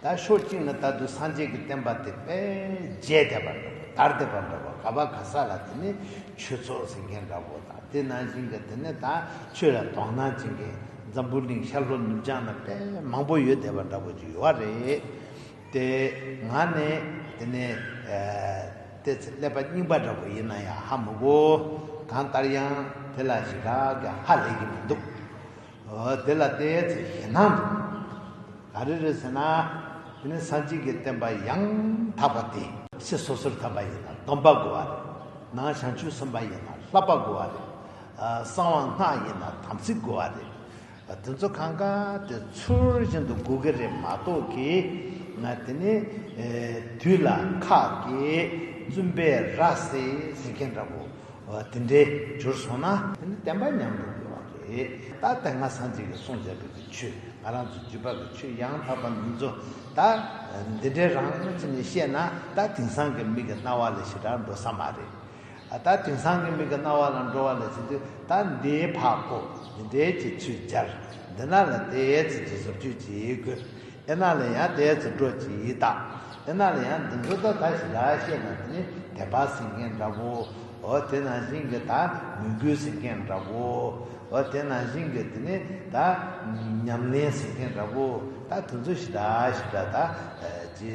ད་ཕྱོགས་གཅིག་ན་ད་དུ་སངས་རྒྱས་ཀྱི་བསྟན་པ་དེ་དཔལ་རྒྱས་འདེབས་པར་འགྲོ་བ་དར་འདེབས་པར་འགྲོ་བ་ག་བ་ག་ས་ལ་དེ་ནི་ཆོས་ཚོགས་ཟེར་མཁན་འདྲ་བོ་དང་དེ་ནང་བཞིན་གྱི་དེ་ནི་ད་ཆོས་ལ་དོགས་སྣང་བྱེད་མཁན་འཛམ་བུ་གླིང་ཤར་ལྷོ་ནུབ་བྱང་ན་དཔལ་མང་པོ་ཡོད་བསྡད་པ་འདྲ་བོ་ཅིག་ཡོད་བ་རེད་དེ། ང་ནི་དེ་ནི་དེ་ཚེ་ཀླད་པ་རྙིང་པ་འདྲ་བོ་ཡིན་ན་ཡང་ཧ་མི་གོ། གང་ལྟར་ཡང་དེ་ལ་ཞེ་དྲག་གི་ཧ་ལས་ཀྱི་མི་འདུག། དེ་ལ་བསྟན་ཡས་ཚེ་གཞན་སྣང་དུ། ག་རེ་རེད་ཟེར་ན། དེ་ནི་སངས་རྒྱས་ཀྱི་བསྟན་པ་ཡང་དག་པ་སྟེ། ཚེ་སོ་སོར་དམ་པ་ཡིན་ན་སྡོམ་པ་དགོས་པ་རེད། ནང་བྱང་ཆུབ་སེམས་དཔའ་ཡིན་ན་ལྷག་པ་དགོས་པ་རེད། གསང་བ་སྔགས་ཡིན་ན་དམ་ཚིག་དགོས་བ་རེད། དེ་ཚོ་གང་ག་དེ་ཚུལ་བཞིན་དུ་དགོས་ཀྱི་རེད་མ་གཏོགས་ཀྱི། དེ་ནི། དུས་ལ་ཁག་གི་བཙུན་པས་ར་བཟི་ཟེར་མཁན་འདྲ་བོ། དེ་འདྲའི་རྒྱུར་སོང་ན། དེ་ནི་བསྟན་པ་ཉམས་དུ་འགྲོ་བ་རེད། ད་དེ་སྔ་སངས་རྒྱས་ཀྱི་གསུང་བྱས་པའི་དེ་ཆོས་ང་རང་ཚོའི་རྒྱུད་པ་གི་ཆོས་ཡང་དག་པ་མིན་ཚོ། ད་འདི་འདྲའི་རང་དངོས་ཚུལ་ནས་བཤད་ན་ད་དེང་སང་གི་མིག་གི་རྣ་བ་ལ་ཞེ་དྲག་འགྲོ་ས་མ་རེད། ད་དེང་སང་གི་མིག་གི་རྣ་བ་ལ་འགྲོ་བ་ལ་ཟེར་དུས་ད་འདིའི་ཕག་པོ་འདི་འདྲའི་ཀྱི་ཚུལ་སྦྱར་འདི་ན་ལ་དེའི་ཚིག་གི་ཟུར་བརྗོད་ཅིག་དགོས། ཨེ་ན་ལས་ཡང་དེའི་ཚེ་སྤྲོ་སྐྱིད་ཡི་དྭགས་ཨེ་ན་ལས་ཡང་འདི་འདྲོ་ད་ད་ཞིག་ལ་བཤད་ན་འདི་ནི་དད་པ་ཟིན་མཁན་འདྲ་བོ་ཨོ་དེ་ནང་བཞིན་གྱི་ད་མོས་གུས་ཟིན་མཁན་འདྲ་བོ་ཨོ་དེ་ནང་བཞིན་གྱི་འདི་ནི་ད་ཉམས་ལེན་ཟིན་མཁན་འདྲ་བོ་ད་དེ་ཚོ་ཞིག་ད་ཞིག་ད་ད་ཅི་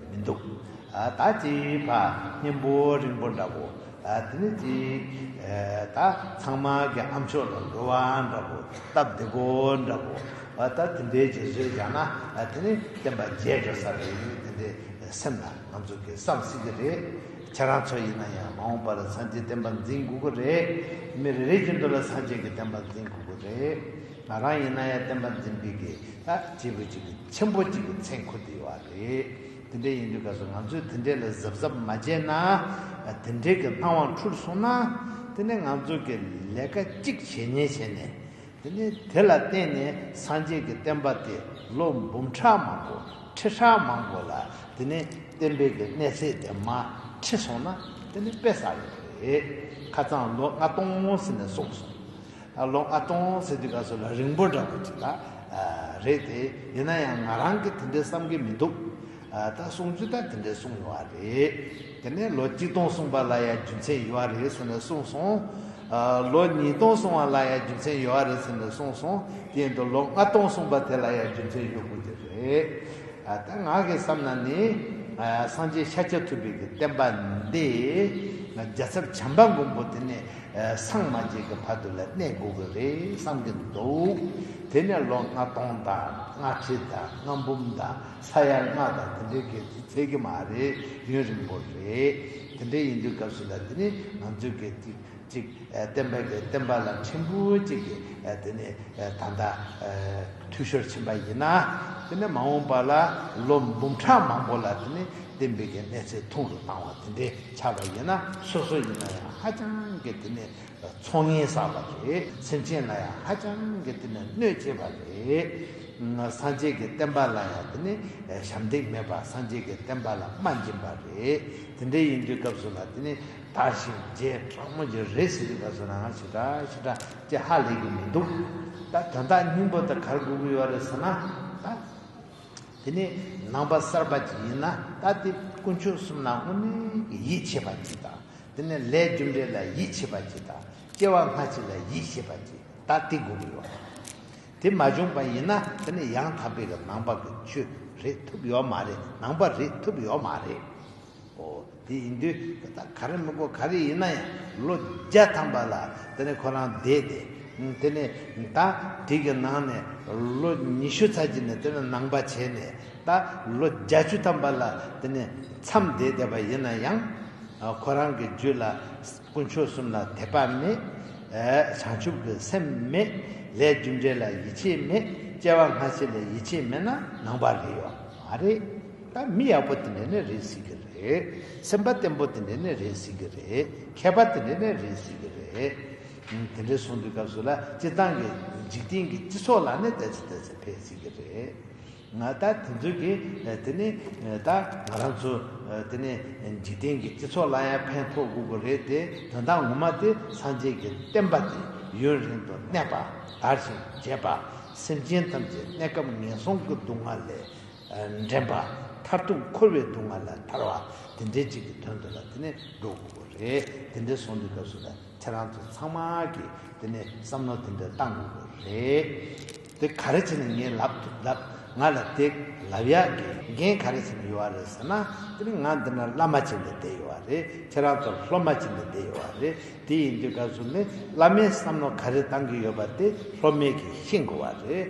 མི་འདུག་ཨ་ད་ཅི་ཕ་གཉན་པོ་རིང་པོ་འདྲ་བོ། དེ་ནི་ཅི། ད་ཚང་མ་གི་ཨ་མཆོག་ལ་འགྲོ་བ་འདྲ་པོ་སྟབས་བདེ་པོ་འདྲ་པོ། ད་དེ་འདྲའི་རྗེས་བཟོས་བཞག་ན་དེ་ནི་བསྟན་པ་རྒྱས་འགྲོ་ས་རེད་ཡིན་དེ་འདྲའི་སེམས་ལ་ང་ཚོ་གི་བསམ་སྲིད་ཀྱི་རེད། ཁྱེད་རང་ཚོ་ཡིན་ན་ཡང་མ་འོངས་པར་སངས་རྒྱས་བསྟན་པ་འཛིན་དགོས་ཀྱི་རེད། མི་རེ་རེ་ཀྱི་འདོད་ལ་སངས་རྒྱས་ཀྱི་བསྟན་པ་འཛིན་དགོས་ཀྱི་རེད། ང་རང་ཡིན་ན་ཡང་བསྟན་པ་འཛིན་པའི་གི་སྐྱེས་བུ་གཅིག་ཆེན་པོ་གཅིག་གི་མཚན་འཁུར་དེ་ཡོད་རེད། དེ་འདྲ་ཡིན་དུས་ག་ཚོད་ང་ཚོས་དེ་འདྲས་ལ་གཟབ་གཟབ་མ་བྱས་ན། དེ་འདྲས་ཀྱི་སྣང་བ་འཁྲུལ་སོང་ན། དེ་ནི་ང་ཚོ་གི་ལས་ཀ་གཅིག་བྱས་ཉེས་བྱས་ནས། དེ་ནི་དེ་ལ་བརྟེན་ནས་སངས་རྒྱས་ཀྱི་བསྟན་པ་དེ་ལོ་འབུམ་ཕྲག་མང་པོ་ཁྲི་ཕྲག་མང་པོ་ལ་དེ་ནི་བསྟན་པའི་གི་གནས་ཚད་དེ་མ་ཁྲི་སོང་ན་དེ་ནི་དཔེ་བསགས་ཡོད་རེད། ཁ་ཚང་ལོ་ལྔ་སྟོང་ཟེར་ནས་གསུངས་སོང། ལོ་ཨ་སྟོང་ཟེར་དུས་ག་ཚོད་ལ་རིང་པོ་འདྲ་པོ་ཅིག་ལ་རེད་དེ། ཡིན་ན་ཡང་ང་རང་གིས་དེ་འདྲའི་བསམ་གྱི་མི་འདུག། ད་གསུང་རྒྱུ་ད་དེ་འདྲའི་གསུང་ཡོང་བ་རེད། དེ་ནས་ལོ་གཅིག་སྟོང་གསུངས་པ་ལ་ཡང་རྒྱུ་མཚན་ཡོད་བ་རེད་ཟེར་ནས་གསུངས་སོང། ལོ་གཉིས་སྟོང་གསུངས་བ་ལ་ཡང་རྒྱུ་མཚན་ཡོད་བ་རེད་ཟེར་ནས་གསུངས་སོང། དེ་ཡིན་དུ་ལོ་ལྔ་སྟོང་གསུངས་པ་དེ་ལ་ཡང་རྒྱུ་མཚན་ཡོད་དགོས་ཀྱི་རེད། ད་ང་གིས་བསམ་ན་ནི། སངས་རྒྱས་ཤཱཀྱ་ཐུབ་པའི་གི་བསྟན་པ་འདི། རྒྱ་ཚབ་བྱམས་པ་མགོན་པོ་དེ་ནས་སངས་མ་རྒྱས་ཀྱི་བར་དུ་ལ་གནས་དགོས་གི་རེད་བསམ་གྱི་འདུག་དེ་ནས་ལོ་ལྔ་སྟོང་དང་ལྔ་ཁྲི་དང་ལྔ་འབུམ་དང་ས་ཡ་ལྔ་དང་དེ་འདྲའི་སྐད་ཚིག་ཚད་ཀྱི་མ་རེད་ཡུན་རིང་པོ་རེད་དེ་འདྲའི་ཡིན་དུས་སྐབས་ཤིག་ལ་དེ་ནི་ང་ཚོའི་སྐད་ཚིག་ཅིག་བསྟན་པ་དེ་བསྟན་པ་ལ་ཕྲན་བུ་གཅིག་གིས་དེ་ནི་ད་ལྟ་འཐུས་ཤོར་ཕྱིན་པ་ཡིན་ན་དེ་ནི་མ་འོངས་པ་ལ་ལོ་འབུམ་ཕྲག་མང་པོ་ལ་དེ་ནི་བདེན་པའི་གནས་ཚད་ཐུང་དུ་བཏང་བ་དེ་འདྲའི་ཆགས་པ་ཡིན་ན་སོ་སོ་ཡིན་ན་ཡང་ཧ་ཅང་གི་དེ་ནི་ཚོང་ངན་བསགས་པ་རེད་སེམས་ཅན་ལ་ཡང་ཧ་ཅང་གི་དེ་ནི་གནོད་བྱེད་པ་རེད། སངས་རྒྱས་ཀྱི་བསྟན་པ་ལ་ཡང་དེ་ནི་ཞབས་འདེགས་མེད་པར་སངས་རྒྱས་ཀྱི་བསྟན་པ་ལ་རྨ་འབྱིན་པ་རེད་དེ་འདྲའི་ཡིན་དུས་སྐབས་སུ་ལ་དེ་ནི་དར་ཞིང་རྒྱས་དྲག་མོ་རྒྱུ་རེད་ཟེར་དུས་སྐབས་སུ་ལ་ང་ཞེ་དྲག་ཞེ་དྲག་ཅེས་ཧ་ལས་ཀྱི་མི་འདུག་ད་དོན་དག་སྙིང་པོ་དེ་གར་སྒུག་གི་ཡོད་རེད་ཟེར་ན་ད། དེ་ནི་ནང་པ་གསར་པ་ཅིག་ཡིན་ན་ལྟ་དེ་དཀོན་མཆོག་གསུམ་ན་དངོས་གནས་ཀྱི་ཡིད་ཆེས་པ་ཅིག་དང་དེ་ནི་ལྷའི་རྒྱུ་འབྲས་ལ་ཡིད་ཆེས་པ་ཅིག་དང་སྐྱེ་བ་སྔ་ཕྱི་ལ་ཡིད་ཆེས་པ་ཅིག་ལྟ་དེ་དགོས་ཀྱི་ཡོད། དེ་མ་བྱུང་པ་ཡིན་ན་དེ་ནི་ཡང་དག་པའི་ནང་པ་གི་ཆོས་རེད་ཐུབ་ཡོད་མ་རེད་ནང་པ་རེད་ཐུབ་ཡོད་མ་རེད། ཨོ། དེ་ཡིན་དུས་ད་ལྟ་ག་རེ་དམིགས་སྒོ་ག་རེ་ཡིན་ན་ཡང་ལོ་བརྒྱ་ཐམ་པ་ལ་དེ་ནས་ཁོ་རང་བསྡད་དེ། དེ་ནས་ད་དུས་ཀྱི་ནང་ནས་ལོ་ཉི་ཤུ་ཚར་གྱི་ནས་དེ་ནས་ནང་པ་བྱས་ནས་ད་ལོ་བརྒྱ་བཅུ་ཐམ་པ་ལ་དེ་ནས་མཚམས་བསྡད་བསྡད་པ་ཡིན་ན་ཡང། ཁོ་རང་གི་རྒྱུད་ལ་དཀོན་མཆོག་གསུམ་ལ་དད་པ་མེད། བྱང་ཆུབ་ཀྱི་སེམས་མེད། ལས་རྒྱུ་འབྲས་ལ་ཡིད་ཆེས་མེད། སྐྱེ་བ་སྔ་ཕྱི་ལ་ཡིད་ཆེས་མེད་ན་ནང་པ་རེད་ཡོད་མ་རེད། ད་མི་ཡག་པོ་དེ་འདྲ་ནི་རེད་ཟེར་གི་རེད། སེམས་པ་བརྟན་པོ་དེ་འདྲ་ནི་རེད་ཟེར་གི་རེད། མཁས་པ་དེ་འདྲ་ནི་རེད་ཟེར་གི་རེད། དེ་འདྲ་གསུང་དུས་སྐབས་སུ་ལ་སྤྱི་བཏང་གི་འཇིག་རྟེན་གྱི་སྤྱི་ཚོགས་ལ་ནི་ད་ཚེ་ད་ཚེ་འཕེལ་ཟེར་གི་རེད། ང་ད་དེ་ཚོ་གི་དེ་ནི་ད་ང་རང་ཚོ་དེ་ནི་འཇིག་རྟེན་གྱི་སྤྱི་ཚོགས་ལ་ཡང་ཕན་ཐོགས་དགོས་གི་རེད་དེ་དོན་དག་ངོ་མ་དེ་སངས་རྒྱས་ཀྱི་བསྟན་པ་དེ་ཡུན་རིང་དུ་གནས་པ་དར་ཞིང་རྒྱས་པ་སེམས་ཅན་ཐམས་ཅད་གནས་སྐབས་ངན་སོང་གི་སྡུག་བསྔལ་ལས་འདྲེན་པ། མཐར་ཐུག་འཁོར་བའི་སྡུག་བསྔལ་ལས་ཐར་བ་དེ་འདྲའི་གཅིག་གི་དོན་དུ་ལ་དེ་ནས་འགྲོ་དགོས་པ་རེད། དེ་འདྲའི་ཟོང་འདི་སྐབས་སུ་ལ་ཁྱེད་རང་ཚོ་ཚང་མ་གིས་དེ་ནས་བསམ་མནོ་དེ་འདྲ་གཏང་དགོས་པ་རེད། དེ་ག་རེ་བྱས་ནས་ངའི་ལབ་ཐུབ་ལབ་ང་ལ་དེ་ལབ་ཡག་གི་འགན་ག་རེ་བྱས་ནས་ཡོད་རེད་ཟེར་ན་དེ་ནི་ང་འདི་ན་བླ་མ་བྱས་ནས་བསྡད་ཡོད་བ་རེད་ཁྱེད་རང་ཚོ་སློབ་མ་བྱས་ནས་བསྡད་ཡོད་བ་རེད་དེ་ཡིན་དུས་སྐབས་སུ་ནི་བླ་མའི་བསམ་མནོ་ག་རེ་གཏང་གི་ཡོད་པ་དེ་སློབ་མས་གིས་ཤེས་དགོས་བ་རེད།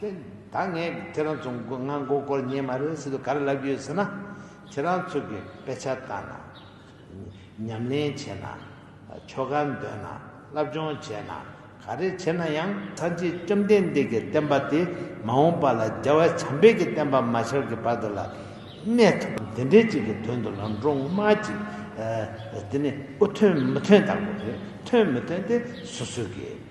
ད་ངས་ཁྱེད་རང་ཚོ་མགོ་ང་མགོ་སྐོར་ཉན་མ་རེད་ཟེར་དུས་ག་རེ་ལབ་རྒྱུ་ཡོད་ཟེར་ན། ཁྱེད་རང་ཚོ་གིས་དཔེ་ཆ་ལྟ་ན། ཉམས་ལེན་བྱེད་ན། ཆོ་ག་འདོན་ན། བསླབ་སྦྱོང་བྱེད་ན། ག་རེ་བྱེད་ན་ཡང། ཚར་རྗེས་བཅོམ་ལྡན་འདས་ཀྱི་བསྟན་པ་དེ་མ་འོངས་པ་ལ་རྒྱལ་བ་བྱམས་དཔལ་གྱི་བསྟན་པ་མ་ཤར་གྱི་བར་དུ་ལ་གནས་ཐུབ། དེ་འདྲའི་ཅིག་གི་དོན་དུ་ལ་འགྲོ་དངུལ་མ་ཅིག་དེ་ནི་དབུ་ཐོན་མུ་ཐོན་དང་པོ་རེད་ཐོན་མི་ཐོན་དེ་སོ་སོའི་གེ།